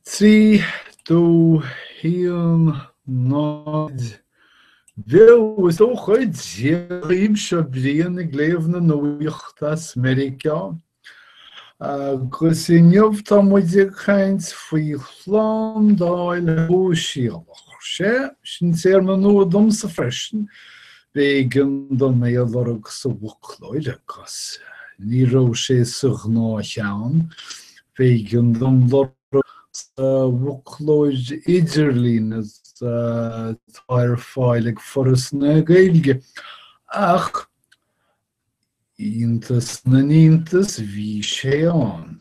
Trí dó, haon, náid. Bail ó Dhia oraibh, seo Brian ag léamh na nuaíocht as Meiriceá agus inniu tá muid ag caint faoi shlándáil shóisialach. Sea, sin téarma nua domsa freisin. B'éigean dom é a lorg sa bhfoclóir agus ní raibh sé sa ghnáthcheann. B'éigean dom lorg sa bhfoclóir idirlín atá ar fáil ag Foras na Gaeilge ach, iontas na n-iontas, bhí sé ann.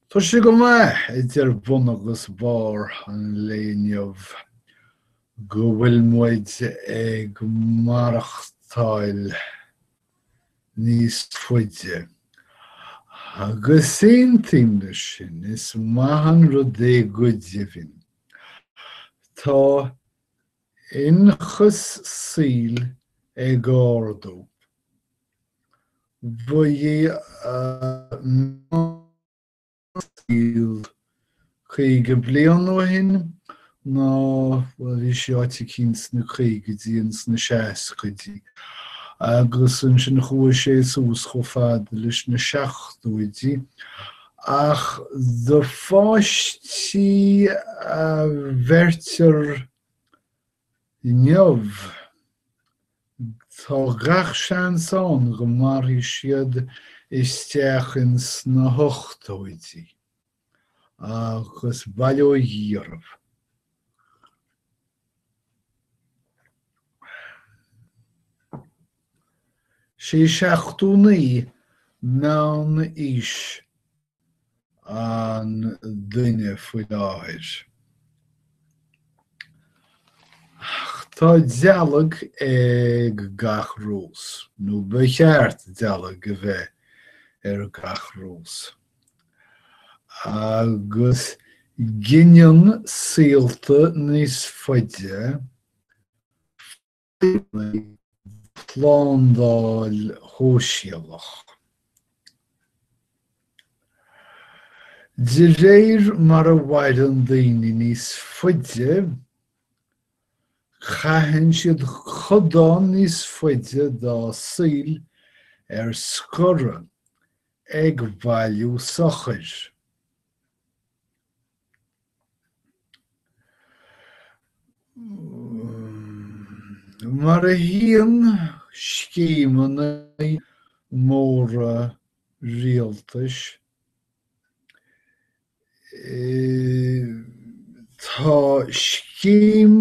Tá sé go maith idir bun agus barr an lae inniu go bhfuil muid ag maireachtáil níos faide. Agus aontaím leis sin, is maith an rud é go deimhin. Tá Ionchas saoil ag ardú. Ba é an meán saoil 50 bliain ó shin ná, bhuel, bhí sí áit eicínt sna caogaidí and sna seascaidí agus ansin chuaigh sé suas chomh fada leis na seachtóidí Ach do pháistí a bheirtear inniu, tá gach seans ann go mairfidh siad isteach insna hochtóidí, agus bail ó Dhia orthu. Sé seachtó naoi meánaois an duine faoi láthair. Ach tá dealg ag gach rós, nó ba cheart dealg a bheith ar gach rós. Agus gineann saolta níos faide Déanfaidh Slándáil Shóisialach, de réir mar a mhaireann daoine níos faide, caitheann siad codán níos faide dá saoil ar scor ag bailiú sochair. Mar a théann scéimeanna móra rialtais, tá scéim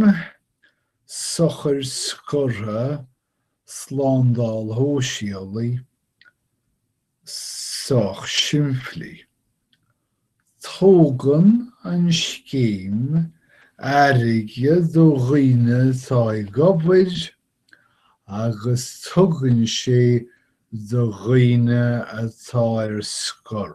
sochair scortha Slándáil Shóisialaigh, sách simplí. Tógann an scéim airgead ó dhaoine atá ag obair agus tugann sé do dhaoine atá ar scor.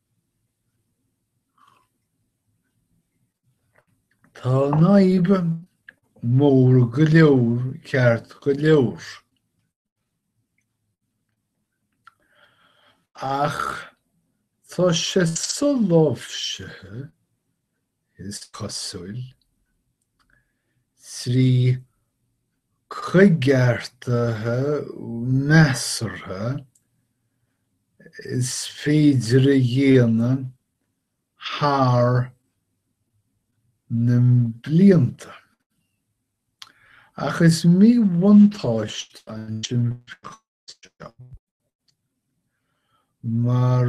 Tá an fhadhb mór go leor ceart go leor, ach tá sé soláimhsithe is cosúil, trí choigeartuithe measartha is féidir a dhéanamh thar na blianta. Ach is míbhuntáiste ansin freisin. seo. Mar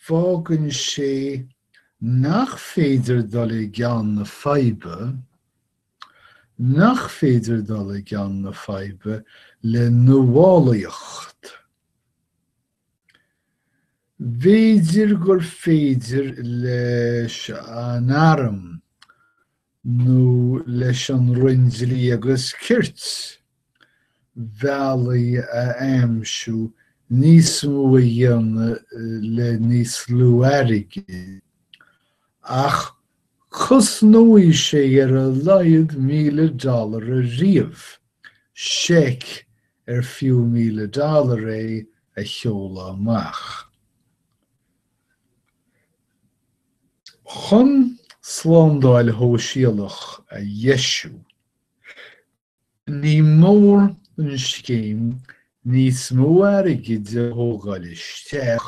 fágann sé nach féidir dul i gceann na faidhbe nach féidir dul i gceann na faidhbe le nuálaíocht. B'fhéidir gur féidir leis an arm nó leis an Roinn Dlí agus Cirt bealaí a aimsiú níos mó a dhéanamh le níos lú airgid, ach cosnóidh sé ar a laghad míle dollar ariamh seic ar fiú míle dollar é a sheoladh amach. Chun slándáil shóisialach a dheisiú, ní mór don scéim níos mó airgid a thógáil isteach,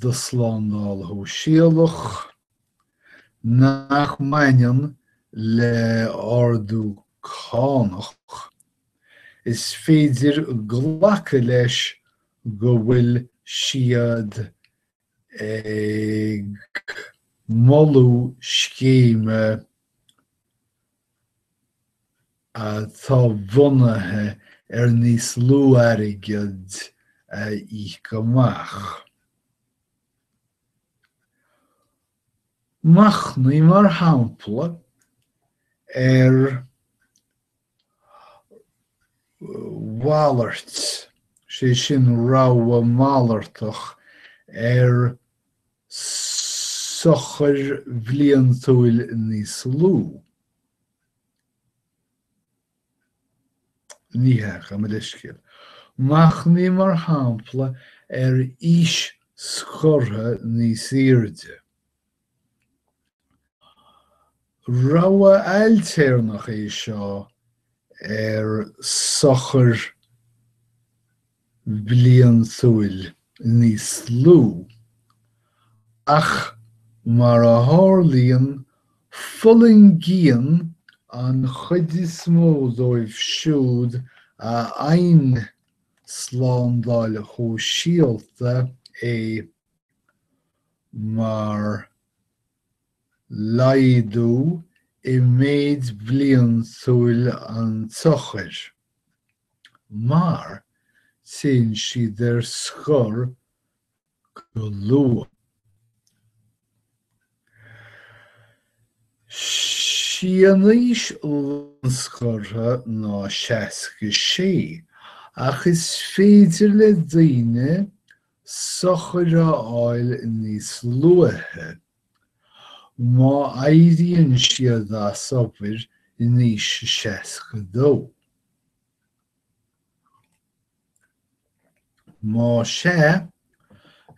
do Shlándáil Shóisialach nach mbaineann le hardú cánach, is féidir glacadh leis go bhfuil siad ag moladh scéime atá bunaithe ar níos lú airgid a íoc amach. Machnaigh, mar shampla, ar mhalairt, sé sin rogha malartach ar. sochair bhliantúil níos lú. Ní hea, gabh mo leithscéal. Machnaigh mar shampla ar aois scortha níos airde. Rogha ailtéarnach é seo ar sochar bliantúil níos lú, ach mar a tharlaíonn, fulaingíonn an chuid is mó díobh siúd a fhaigheann slándáil shóisialta é mar laghdú i méid bliantúil an tsochair. mar téann siad ar scor go luath. Sí an aois lánscortha ná 66, ach is féidir le daoine sochair a fháil níos luaithe Má éiríonn siad as obair in aois a 62. Más ea,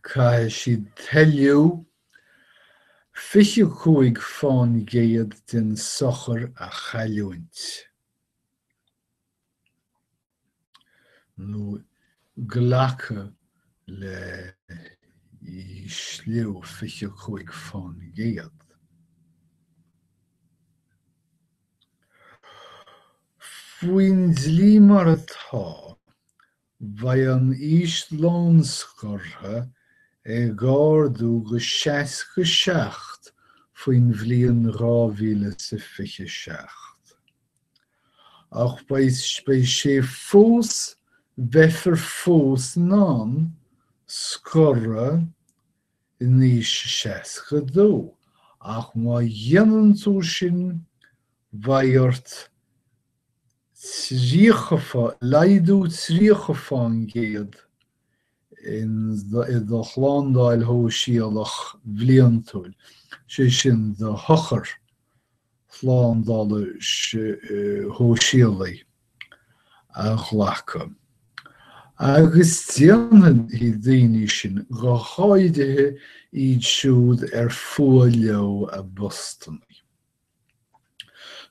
caithfidh siad toiliú 25 fán gcéad den sochar a chailliúint. nó glacadh le hísliú 25%. Faoin dlí mar atá, beidh an aois lánscortha ag ardú go 67 faoin bhliain 2027. Ach beidh, beidh sé fós, beifear fós in ann scor in aois a 62, ach má dhéanann tú sin, beidh ort 30, laghdú 30 fán gcéad, i do shlándáil shóisialach bhliantúil, sé sin do shochair shlándála shóisialaigh, a ghlacadh, agus déanfaidh daoine sin, go háirithe iad siúd ar fuath leo a bpostanna,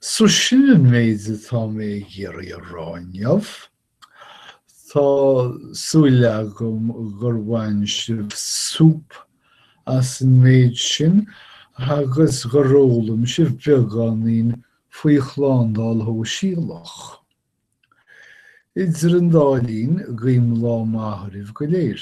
So sin an méid atá mé ag iarraidh a rá inniu. Tá súil agam gur bhain sibh súp as an méid sin agus gur fhoghlaim sibh beagáinín faoi shlándáil shóisialach. Idir an dá linn, guím lá maith oraibh go léir.